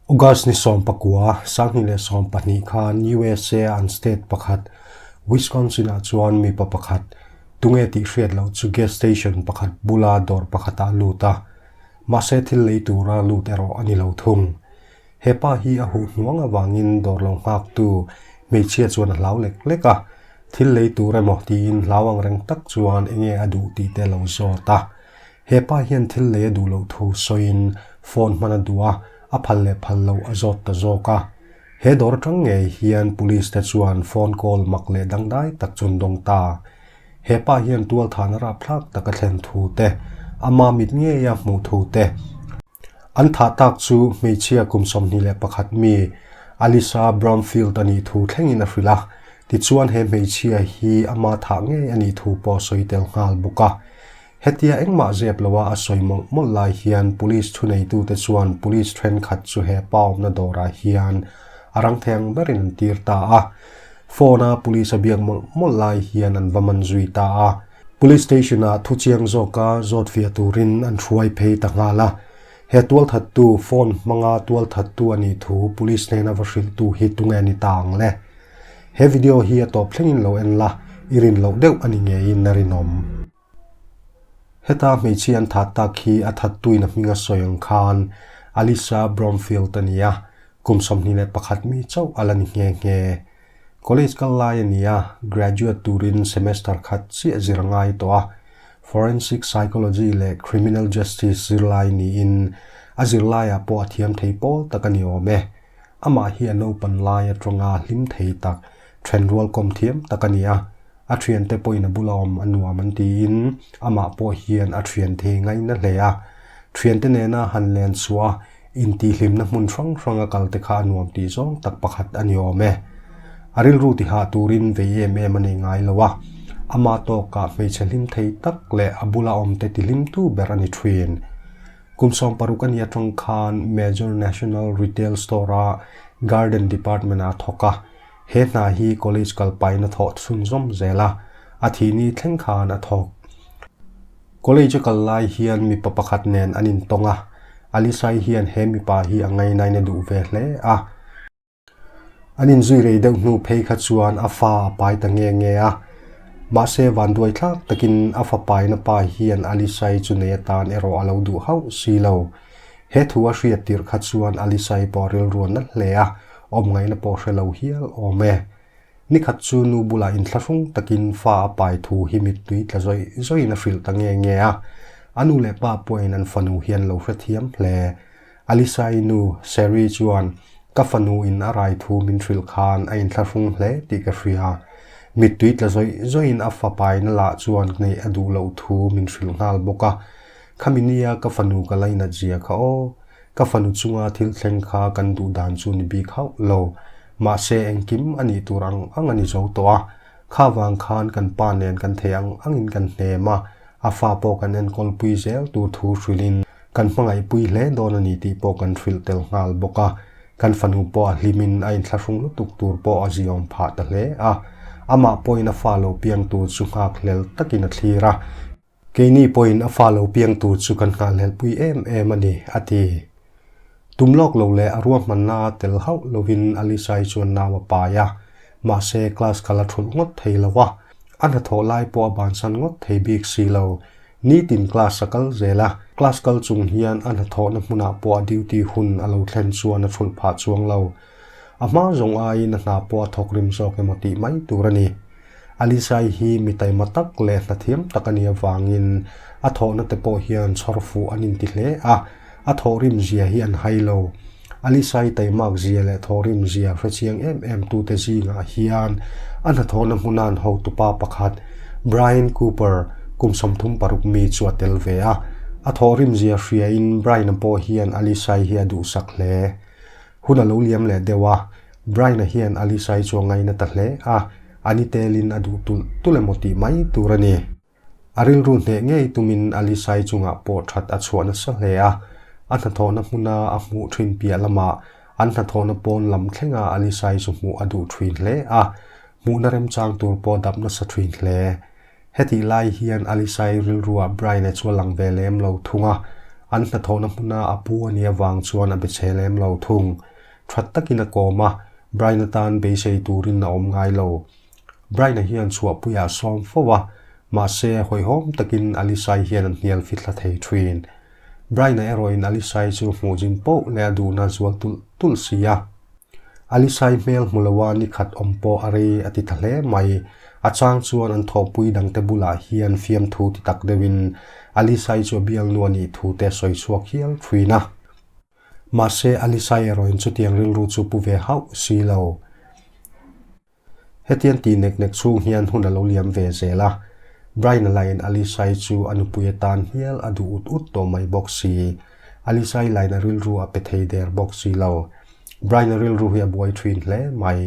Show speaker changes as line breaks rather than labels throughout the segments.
August ni sawm pakua, sanghnih leh sawm pahnih khan usa an state pakhat Wisconsin ah chuan mipa pakhat tunge tih hriat loh chu gas station pakhat bula dawr pakhatah a lut a. Mahse thil lei tura lut erawh a ni lo thung. He pa hi a huh hnuang avangin dawr lo nghaktu hmeichhia chuan a hlau lek lek a, thil lei tur emaw tiin hlau ang reng tak chuan eng nge a duh tih te a lo zawt a. He pa hian thil lei a duh loh thu sawiin phone hman a duh a, a phal leh phal loh a zawt ta zawk a. He dawr atang ngei hian police te chuan phone call mak leh dangdai tak chuan dawng ta. He pa hian tualthahna rapthlak taka thlen thu te, ama mit ngeia hmuh thu te, An thah tak chu hmeichhia kum sawmhnih leh pakhat mi Alisa Bromfield a nih thu thlengin a hrilh a. Tichuan he hmeichhia hi ama thah ngei a nih thu pawh sawi tel nghal bawk a. Hetia engmah zep loha a sawi mawlh mawlh lai hian Police thuneitute chuan Police thenkhat chu he pawmna dawrah hian a rangtheng berin an tir ta a. Phone a Police a biak mawlh mawlh lai hian an va man zui ta a. Police station ah thu chiang zawk a zawt fiah turin an hruai phei ta nghal a. He tualthattu phone hmanga tualthattu a nih thu police hnen a va hrilhtu hi tunge a ni ta ang le? He video hi a tawp thlengin lo en la, i rin loh deuh a ni ngeiin na rinawm. Heta hmeichhia an that tak hi a thattuin a hming a sawi ang khan Alisa Bromfield a ni a, kum sawmhnih leh pakhat mi chauh a la ni nghe nghe. College kal lai a ni a, graduate turin semester khat chiah zir ngai tawh a, Forensic Psychology leh Criminal Justice zir lai niin a zir laiah pawh a thiam thei pawl tak a ni awm e. Amah hi a naupan lai aṭanga hlim thei tak, ṭhen rualkawm thiam tak a ni a. a thiante pawhin a bula awm a nuam an tiin amah pawh hian a thian thei ngaina hle a. Thiante nena han len chua intihhlimna hmun hrang hranga kalte kha a nuam tih zawng tak pakhat a ni awm e. A rilru ti hah turin vei em em a nei ngai lo a, amah tawkah hmeichhe hlim thei tak leh a bula awmte ti hlimtu ber a ni thin. Kum sawm paruk a ni atang khan Major National Retail Store-a Garden Department-ah thawk a, He hna hi college kal paihna thawh chhun zawm zel a, a thihni thleng khan a thawk. College a kal lai hian mipa pakhat nen an intawng a, Alice-ai hian he mipa hi a ngainain a duh ve hle a. An inzui rei deuh hnu phei kha chuan a fa a pai ta nge nge a. Mahse, vanduai thlak takin a fa paina pa hian Alice-ai chu nei atan erawh a lo duh hauh si lo. He thu a hriat tirh kha chuan Alice-ai pawh a rilruan nalh hle a. Awm ngaina pawh hre lo hial awm e. Ni khat chu nu bulah intla hrung takin fa a pai thu hi mittui tla zawih zawihin a hrilh ta nge nge a. A nu leh pa pawhin an fanu hian lo hrethiam hle. Alyssa-i nu, Sherry chuan, Ka fanu in a rai thu min hrilh khan a intla hrung hle tih ka hria. Mittui tla zawih zawihin a fa paina lah chuan hneih a duh loh thu min hrilh nghal bawk a. Khami nia ka fanu ka la inat zia kha aw, ka fanu chunga thil thleng kha kan duh dan chu ni bik hauh lo. Mahse engkim a nih tur ang ang a ni zo tawh a, kha vang khan kan pa nen kan thei ang ang in kan hnem a, a fa pawh kan enkawl pui zel tur thu hrilh in kan hmangaih pui hle dawn a ni tih pawh kan hrilh tel nghal bawk a, kan fanu pawh a hlim in a inthlahrung lutuk tur pawh a ziawm phah ta hle a, amah pawhin a fa lo piang tur chu nghak hlel tak in a thlir a. Keini pawhin a fa lo piang tur chu kan nghahhlelhpui em em a ni, a ti. Tum lawk lo leh a ruahmanna tel hauh lovin Alice-ai chuan nau a pai a, mahse class kal a thulh ngawt thei lo a, a hnathawh lai pawh a bansan ngawt thei bik si lo. Nitin class a kal zel a, class kal chung hian a hnathawhna hmunah pawh a duty hun a lo thlen chuan a thulh phah chuang lo. A hma zawng aiin a hna pawh a thawk rim zawk emaw tih mai tur a ni. Alizai hi mi taima tak leh hnathiam tak a nih avangin a thawhnate pawh hian chhawr fuh an inti hle a, a thawh rim zia hi an hai lo. Alizai taimak zia leh thaw rim zia hrechiang em em tute zingah hian a hnathawhna hmuna'n hotupa pakhat, Brian Cooper, kum sawmthum paruk mi chu a tel ve a. A thawh rim zia hriain Brian-a pawh hian Alizai hi a duhsak hle. Hun a lo liam leh deuh a, Brian-a hian a Lisa-i chu a ngaina ta hle a, a ni telin a duh tulh tulh emaw tih mai tur a ni. A rilru hneh ngei tumin a Lisa-i chungah pawh that a chhuah nasa hle a, a hnathawhna hmuna a hmuh thin piah lamah an hnathawhna pawn lam thlenga a Lisa-i chu hmuh a duh thin hle a, hmuhna remchang tur pawh dap nasa thin hle. Hetih lai hian Alice-i rilruah Brian-e chu a lang ve lem lo thung a, an hnathawhna hmuna a pu a nih avang chuan a be che lem lo thung. That takin a kawm a, Brian atan beisei turin a awm ngai lo. Brian-a hian chhuahpui a sawm fo a, mahse hawihhawm takin Alice-i hian a hnial fithla thei thin. Brian-a erawhin Alice-i chu hmuh zin poh leh a duhna zual tulh tulh si a. Alice-i hmel hmu lo a, nikhat awm pawh a rei a ti ta hle mai. A chang chuan an thawhpui dangte bulah hian fiamthu ti tak deuhin Alice-i chu a bialnu a nih thu te a sawi chhuak hial thuin a. Mahse, Alice-i erawhin chutiang rilru chu pu ve hauh si lo. Hetian tih nek nek chhung hian hun a lo liam ve zel a. Brian-a lain Alice-i chu a nupui atan hial a duh ut ut tawh mai bawk si. Alice-i laina rilru a pe thei der bawk si lo. Brian-a rilru hi a buai thin hle mai.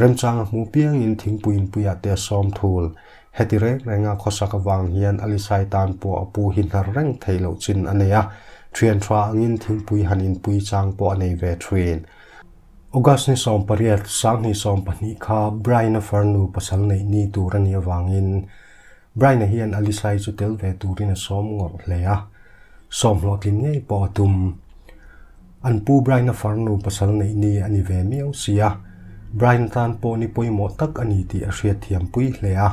Remchang a hmuh piangin thingpuiin puiah te a sawm thul. Heti reng renga khawsak avang hian Alice-i tan pawh a pu hi hnar reng thei loh chin a nei a. Thianṭha angin thingpui han inpui chang pawh a nei ve thin. August ni sawm pariat, Sanghnih sawm pahnih kha Brian-a far nu pasal neih ni tur a ni avangin Brian-a hian Alice-ai chu tel ve turin a sawm ngawrh hle a. Sawm hlawhtlin ngei pawh a tum. An pu Brian-a far nu pasal neih ni a ni ve miau si a, Brian tan pawh ni pawimawh tak a ni tih a hriatthiam pui hle a.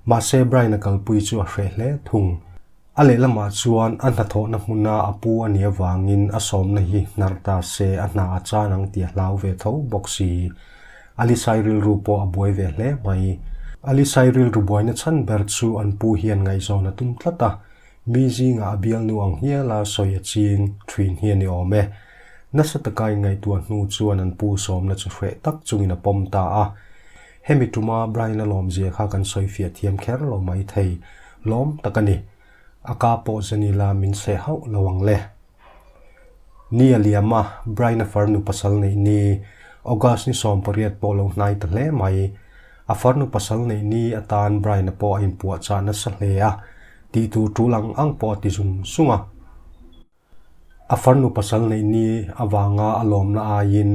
Mahse Brian-a kalpui chu a hreh hle thung. A lehlamah chuan a hnathawhna hmuna a pu a ni avangin a sawmna hi hnar ta se a hna a chan ang tih a hlau ve tho bawk si. Alisai rilru pawh a buai ve hle mai. Alisai rilru buaina chhan ber chu an pu hian ngaihzawn a tum tlat a, mi zingah a bialnu ang hial a sawi a ching thin hi a ni awm e. Nasa taka in ngaihtuah hnu chuan an pu sawmna chu hreh tak chungin a pawm ta a. Hemi tuma Brian-a lawm zia kha kan sawi fiah thiam kher lo mai thei lawm tak a ni. A ka pawh zani la min seh hauh lo ang le. Ni a liam a, Brian-a far nu pasal neih ni, August ni sawm pariat pawh lo hnai ta hle mai. A far nu pasal neih ni atan Brian-a pawh a inpuahchah nasa hle a, tih tur ṭul ang ang pawh a ti zung zung a. A farnu pasal neih ni avanga a lawmna aiin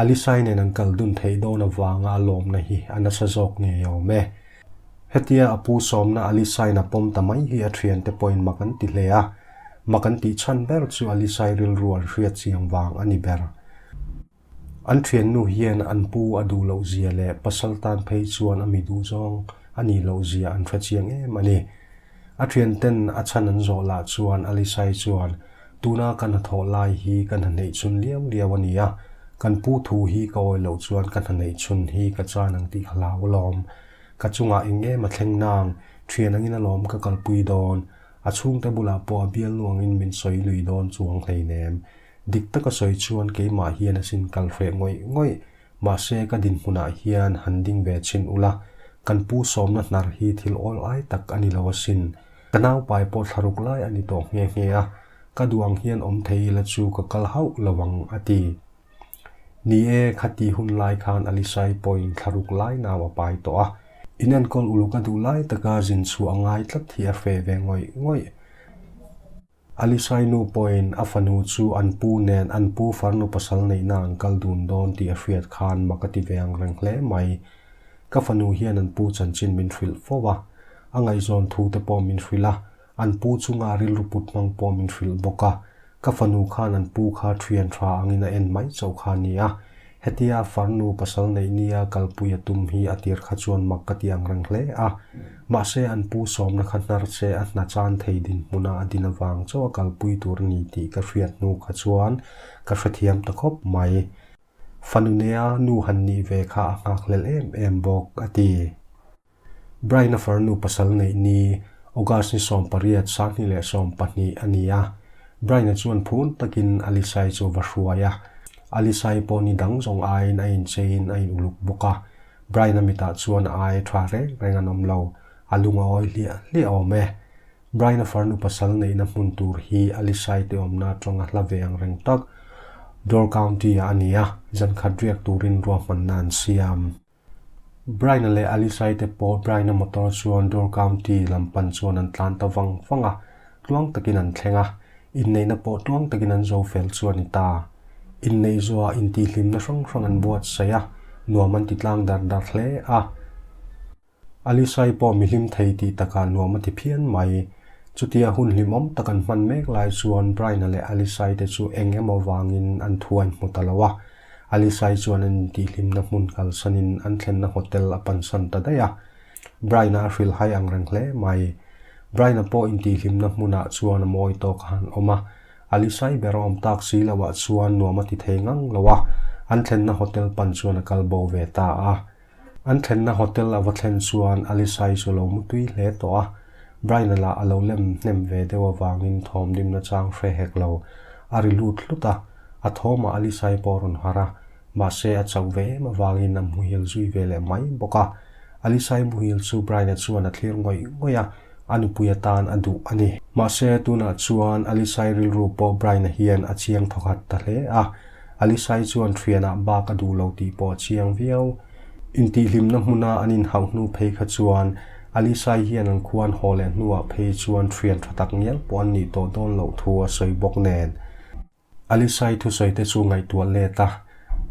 Alisai nen an kal dun theih dawn avanga a lawmna hi a nasa zawk ni awm e. Hetia a pu sawmna Alisaina pawm ta mai hi a thiante pawhin mak an ti hle a. Mak an tih chhan ber chu Alisai rilru an hria chiang vang a ni ber. An thiannu hian an pu a duh loh zia leh pasal tan phei chuan a mi duh zawng a nih loh zia an hre chiang em a ni. A thianten a chhan an zawh lah chuan Alisa'i chuan, Tuna ka hna thawh lai hi ka hna hneih chhun liau liau a ni a, kan pu thu hi ka awi loh chuan ka hna hneih chhun hi ka chan ang tih ka hlau alawm. Ka chungah eng em a thleng nang, thian angin alawm ka kalpui dawn. A chhungte bulah pawh a bial nuangin min sawi lui dawn chuang hleinem. Dik taka sawi chuan keimah hian a sin kal hreh ngawih ngawih. Mahse ka dinhmunah hian han ding ve chin ula, kan pu sawmna hnar hi thil awl ai tak a ni lo a sin. Ka naupai pawh thlaruk lai a ni tawh nghe nghe a, ka duang hian awm thei ila chu ka kal hauh lo ang, a ti. Ni e, khati hun lai khan Alisaii pawhin thlaruk lai nau a pai tawh a. In enkawl uluk a duh lai taka zin chhuah a ngai tlat hi a hreh ve ngawih ngawih. Alisai nu pawhin a fanu chu an pu nen an pu far nu pasal neihna an kal dun dawn tih a hriat khan maka ti ve ang reng hle mai. Ka fanu hian an pu chanchin min hrilh fo a, a ngaihzawn thu te pawh min hrilh a, an pu chunga rilru put hmang pawh min hrilh bawk a, ka fanu khan an pu kha thian tha angin a en mai chauh kha a ni a, Hetia farnu pasal neih nia kalpui a tum hi a tir kha chuan mak ka ti ang reng hle a. Mahse an pu sawmna kha hnar che a hna chan thei din hmuna a din avang chauh a kalpui tur a ni tih ka hriat hnu kha chuan ka hrethiam ta khawp mai. Fanunea nu han nih ve kha a nghakhlelh em em bawk a ti. Brian-a far nu pasal neih ni August ni sawm pariat, Sanghni leh sawm pahnih a ni a. Brian-a chuan phun takin Alice-i chu va hruai a. Alice-i pawh ni dang zawng aiin a incheiin a in-uluk bawk a. Brian-a mitah chuan a ai tha reng reng an awm lo. A lung a awi hliah hliah awm e. Brian-a far nu pasal neihna hmun tur hi Alice-i tihawmna atanga hla ve ang reng tak Door County-ah a ni a, zankhat riak turin ruahmanna an siam. Brian-a leh Alice-ai te pawh Brian-a motor chuan Door County lam pan chuan an tlan ta vang vang a, tluang takin an thleng a, inneihna pawh tluang takin an zo fel chu a ni ta. Inneih zuaah intihhlimna hrang hrang an buatsaih a, nuam an ti tlang dar dar hle a. Alice-ai pawh mihlim thei tih takah nuam a ti phian mai. Chuti a hun hlimawm tak an hman mek lai chuan Brian-a leh Alice-ai te chu eng emaw vangin an thu a inhmu ta lo a. Alyssa-i chuan an intihhlimna hmun kalsanin an thlenna hotel a pansan ta daih a. Brian-a a hrilh hai angreng hle mai. Brian-a pawh intihhlimna hmunah chuan a mawi tawk a han awm a. Alyssa-i ber a awm tak si loah chuan nuam a ti thei ngang lo a. An thlenna hotel pan chuan a kal bo ve ta a. An thlenna hotel a va thlen chuan Alyssa-i chu lo mutui hle tawh a, Brian-a lah a lo lem hnem ve deuh avangin thawm dim na chang hre hek lo. A ri lut hlut a, a thawmah Alyssa-i pawh a rawn harh a, mahse a chauh ve em avangin a hmuhil zui ve leh mai bawk a. Alyssa-i muhil chu Brian-a chuan a thlir ngawih ngawih a. a nupui atan a duh a ni. Mahse, tunah chuan Alisai rilru pawh Brian-a hian a chiang thawkhat ta hle a. Alisai chuan ṭhianah bak a duh lo tih pawh a chiang viau. Intihhlimna hmuna an inhauh hnu phei kha chuan Alisai hian an khuan haw leh hnuah phei chuan ṭhian ṭha tak ngial pawh an nih tawh dawn loh thu a sawi bawk nen, Alisai thusawite chu ngaihtuah let a,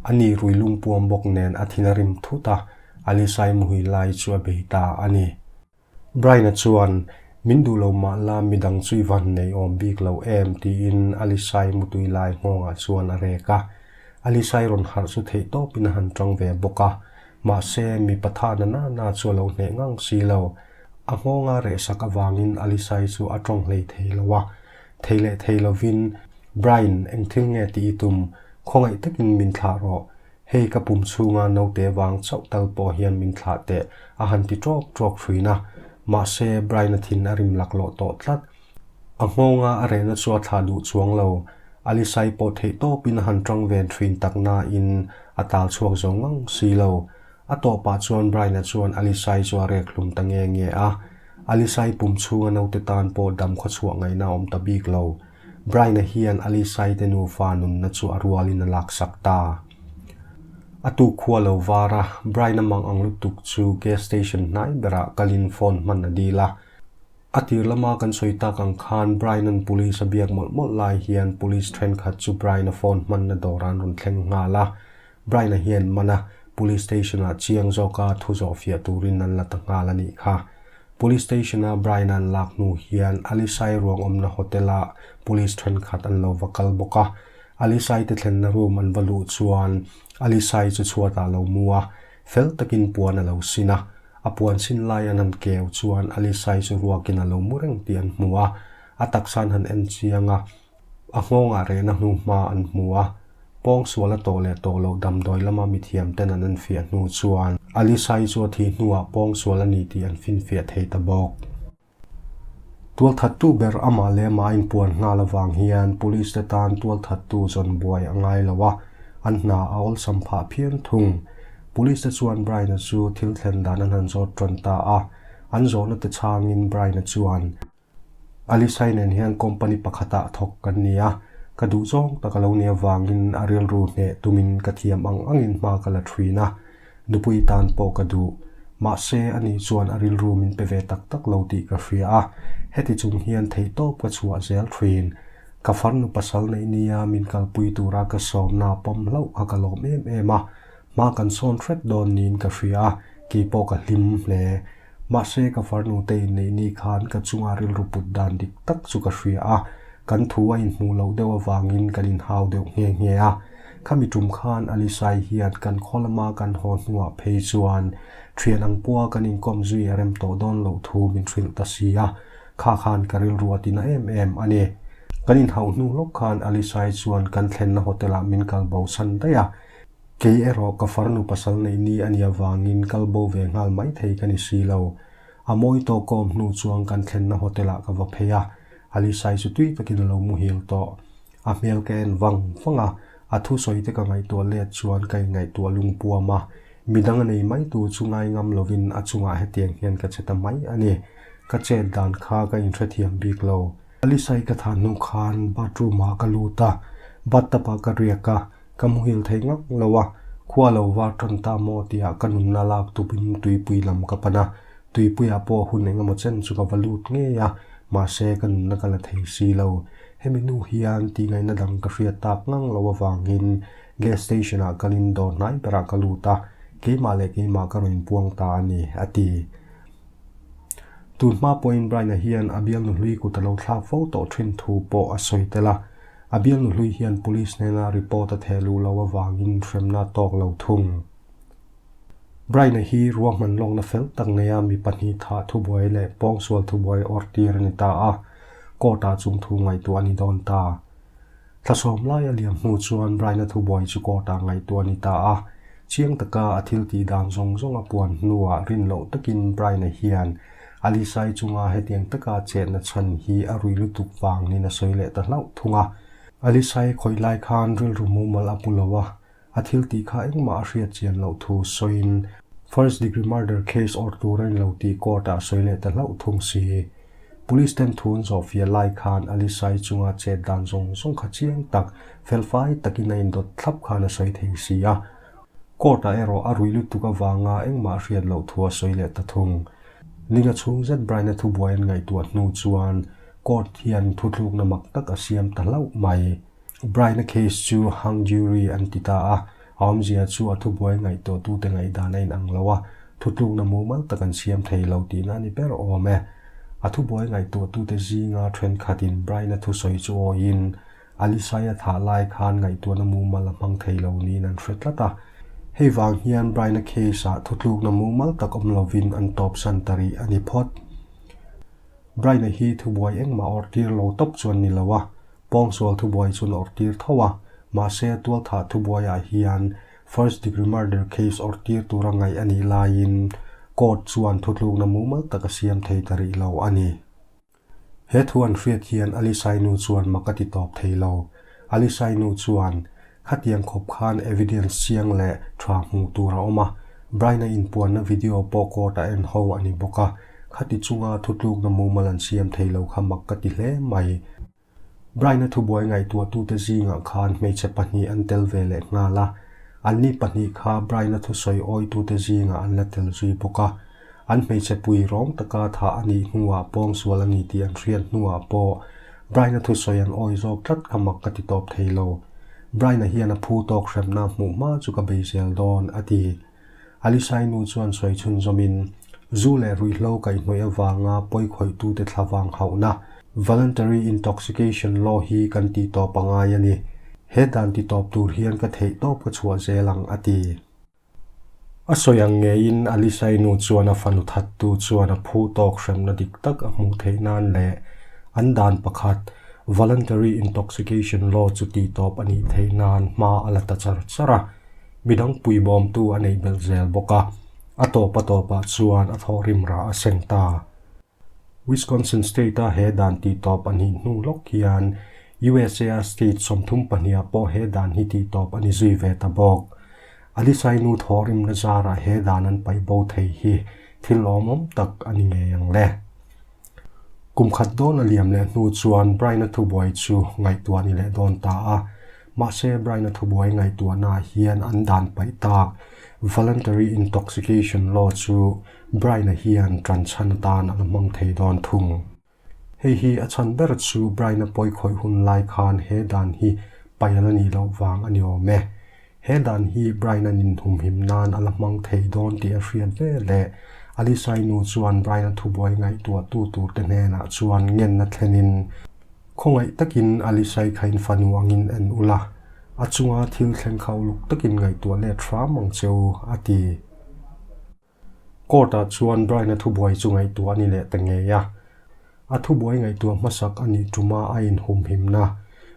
a nih rui lungpuam bawk nen a thin a rim thut a, Alisai muhi lai chu a bei ta a ni. Brian-a chuan, Min duh lo mah la, midang chu i van nei awm bik lo em? tiin Alisai mutui lai nghawngah chuan a rek a. Alisai rawn harh chu theih tawpin a han ṭang ve bawk a, mahse, mi patha nana na chu a lo hneh ngang si lo. A nghawng a rehsak avangin Alisai chu a ṭawng hlei thei lo a, Thei leh thei lovin, Brian, eng thil nge ti i tum? Khawngaih takin min thlah rawh. Hei ka pum chhunga naute vang chauh tal pawh hian min thlah teh, a han ti trawk trawk ṭhin a. Mahse, Brian-a thin a rim laklawh tawh tlat. A nghawngah a rehna chu a thlah duh chuang lo. Alice-ai pawh theihtawpin a han ṭang ven ṭhin tak nain a tal chhuak zo ngang si lo. A tawpah chuan Brian-a chuan Alice-i chu a rekhhlum ta nge nge a. Alice-i pum chhunga naute tan pawh dam khawchhuah ngaihna a awm ta bik lo. Brian-a hian Alice-i te nufa nunna chu a rualin a laksak ta. A tu khua lo vara Brian-a mang ang lutuk chu gas station hnai berah kalin phone hman a dil a. A tir lama kan sawi tak ang khan Brian-a'n police a biak mawlh mawlh lai hian police thenkhat chu Brian-a phone hmanna dawrah an rawn thleng nghal a. Brian-a hian Mana Police Station-ah chiang zawka thu zawh fiah turin an la ta nghal a nih kha. Police Station-a Brian-a an lak hnu hian Alisai ruang awmna hotel-ah Police thenkhat an lo va kal bawk a. Alisaite thlenna room an va luh chuan Alisai chu chhuatah lo mu a, fel takin puan a lo sin a. A puan sin lai an han keu chuan Alisai chu ruakin a lo mu reng tih an hmu a. A taksa'n han en chiang a. A nghawngah rehna hnu hma an hmu a, pawng sual a tawh leh tawh loh damdawi lama mithiamten an en fiah hnu chuan Alisa-i chu a thi hnuah pawng sual a ni tih an finfiah thei ta bawk. Tualthattu ber amah leh amah a inpuan nghal avang hian Police-te tan tualthattu zawn buai a ngai lo a, an hna a awlsam phah phian thung. Police-te chuan Brian-a chu thil thlen dan an han zawt tawn ta a, an zawhna te chhangin Brian-a chuan Alice-a nen hian company pakhatah thawk kan ni a, ka duh zawng tak a lo ni avangin a rilru hneh tumin ka thiam ang angin hma ka la ṭhin a. Nupui tan pawh ka duh. Mahse, a ni chuan a rilru min pe ve tak tak lo tih ka hria a, heti chung hian theihtawp ka chhuah zel ṭhin. Ka farnu pasal neihnia min kalpui tura ka sawmna pawm hlauh kha ka lawm em em a, Hma kan sawn hret dawn niin ka hria a, kei pawh ka hlim hle. Mahse ka farnute inneihni khan ka chunga rilru put dan dik tak chu ka hria a, kan thu a inhmuh loh deuh avangin kan inhau deuh nghe nghe a. Khami tum khan Alisaii hian kan khaw lama kan haw hnuah phei chuan thian ang pua kan inkawm zui a rem tawh dawn loh thu min hrilh ta si a, kha khan ka rilru a ti na em em a ni. Kan inhauh hnu hlawk khan Alisaii chuan kan thlenna hotel-ah min kal bo chhan daih a, Kei erawh ka far nu pasal neih ni a nih avangin kal bo ve nghal mai thei ka ni si lo. A mawi tawk awm hnu chuan kan thlenna hotel ah ka va phei a, Alisa-i chu tui takin a lo muhil tawh. A hmel ka en vang vang a, a thu sawi te ka ngaihtuah let chuan ka ingaihtuah lungpuam a. Midang a nei mai tu chu ngai ngam lovin a chungah hetiang hian ka che ta mai a ni. Ka chet dan kha ka in hrethiam bik lo. Alisa-i ka thah hnu khan bathroom ah ka lut a, bathtub ah ka riak a, Ka muhil thei ngang lo a, khua lo var tan ta maw tia ka nunna lak tupin tuipui lam ka pan a. Tuipuia pawh hun engemaw chen chu ka va lut ngei a, mahse ka nunna ka la thei si lo. Hemi nu hian tih ngaihna dang ka hriat tak ngang lo avangin gas station ah kalin dawr hnai berah ka lut a, keimah leh keimah ka rawn puang ta a ni, a ti. Tun hma pawhin Brian-a hian a bialnu hlui kut a lo thlak fo tawh thin thu pawh a sawi tel a. A bialnu hlui hian police hnena report a theh luh loh avangin hremna tawk lo thung. Brian-a hi ruah hman lawkna fel tak neia mi pahnih thah thubuai leh pawngsual thubuai awrhtir a ni ta a, court-ah chung thu ngaihtuah a ni dawn ta. Thlasawm laia liam hnu chuan Raina Thubuai chu court ah ngaihtuah a ni ta a. Chiang taka a thil tih dan zawng zawng a puan hnuah rin loh takin Raina hian Alice-i chunga hetiang taka chetna chhan hi a rui lutuk vang niin a sawi leh ta hlauh thung a. Alice-i khawih lai khan rilru mumal a pu lo a. a thil tih kha engmah a hriat chian loh thu sawiin first degree murder case awrh tur a ni lo tih court ah sawi leh ta hlauh thung si. Police ten thu an zawh fiah lai khan Ali Sai chunga chet dan zawng zawng kha chiang tak, felfai takin a indawt thlap khan a sawi thei si a. Court ah erawh a ruih lutuk avanga engmah a hriat loh thu a sawi leh ta thung. Linga chhung zet Brian a thubuai an ngaihtuah hnu chuan court hian thutlukna mak tak a siam ta hlauh mai. Brian-a case chu hung jury an ti ta a, a awmzia chu a thubuai ngaihtuahtute ngaihdan a inang lo a, thutlukna mumal tak an siam thei lo tihna ni ber awm e. A thubuai ngaihtuahtute zinga thenkhatin Brian-a thusawi chu awiin, Alisaia thah lai khan ngaihtuahna mumal a hmang thei lo niin an hre tlat a. Hei vang hian Brian-a case-ah thutlukna mumal tak awm lovin an tawpsan ta rih a ni phawt. Brian-a hi thubuai engmah awrhtir lo tawp chuan ni lo a, Pawngsual thubuai chu an awrh tir tho a, mahse Tualthah thubuaiah hian First Degree Murder case awrh tir tur a ngaih a nih laiin Court chuan thutlukna mumal tak a siam thei ta rih lo a ni. He thu an hriat hian Alisainu chuan mak a ti tawp thei lo. Alisainu chuan Khatiang khawp khan evidence chiang leh tha hmuh tur a awm a, Brian-a inpuanna video pawh court a en ho a ni bawk a, khati chunga thutlukna mumal an siam thei lo kha mak ka ti hle mai. Brian-a thubuai ngaihtuahtute zingah khan hmeichhe pahnih an tel ve leh nghal a, anni pahnih kha Brian-a thusawi awitute zingah an la tel zui bawk a. An hmeichhe pui rawng taka thah a nih hnuah pawng sual a ni tih an hriat hnuah pawh Brian-a thusawi an awi zawk tlat kha mak ka ti tawp thei lo. Brian-a hian a phu tawk hrepna hmuh hma chu ka bei zel dawn, a ti. Alisa-i nu chuan sawi chhunzawmin, Zu leh ruihhlo kaih hnawih avanga pawi khawitute thla vang hauhna, Voluntary Intoxication Law, hi kan ti tawp a ngai a ni. He dan ti tawp tur hian ka theih tawp ka chhuah zel ang, a ti. A sawi ang ngeiin Alisai nu chuan a fanu thattu chuan a phu tawk hremna dik tak a hmuh theih nan leh an dan pakhat Voluntary Intoxication Law chu tih tawp a nih theih nan hma a la ta char char a. Midang pui bawmtu a neih belh zel bawk a, a tawpa tawpah chuan a thawh rimrah a sen ta. Wisconsin State-a he dan tih tawp a nih hnu lawk hian USA-a state sawmthum pahniha pawh he dan hi tih tawp a ni zui ve ta bawk. Ali Sainu thawh rimna zarah he dan an paih bo thei hi thil awm awm tak a ni ngei ang le. Kum khat dawn a liam leh hnu chuan Brian-a thubuai chu ngaihtuah ni leh dawn ta a. Mahse, Brian-a thubuai ngaihtuahnaah hian an dan paih tak Voluntary Intoxication Law chu Brian-a hian ṭan chhan atan a la hmang thei dawn thung. Hei hi a chhan ber chu Brian-a pawi khawih hun lai khan he dan hi paial a nih loh vang a ni awm e. He dan hi Brian-a ninhumhim nan a la hmang thei dawn tih a hriat ve le. Alice-ai nu chuan Brian-a thubuai ngaihtuahtu turte hnenah chuan ngenna thlenin, Khawngaih takin a lihrai khain fanu angin en ula, a chunga thil thleng kha uluk takin ngaihtuah let hram ang che u, a ti. Court ah chuan Brian-a thubuai chu ngaihtuah a ni leh ta ngei a. A thubuai ngaihtuah hmasak a nih ṭum a a inhumhimna,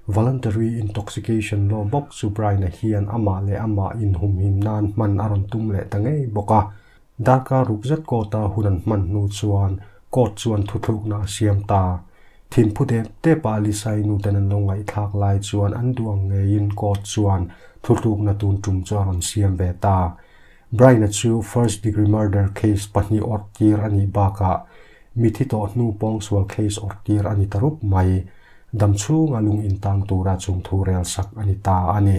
voluntary intoxication, law bawk chu Brian-a hian amah leh amah inhumhim nan hman a rawn tum leh ta ngei bawk a, Dhaka rukzet court-a hun an hman hnu chuan court chuan thuthlukna a siam ta. Thinphu dep depa Lisai nuten an lo ngaihthlak lai chuan an duang ngeiin court chuan thuthlukna tun tum chu a rawn siam ve ta. Bryan-a chu first degree murder case pahnih awrh tir a nih bakah mithi tawh hnu pawngsual case awrh tir a ni ta rup mai. Damchhunga lung intam tura chungthu rel sak a ni ta a ni.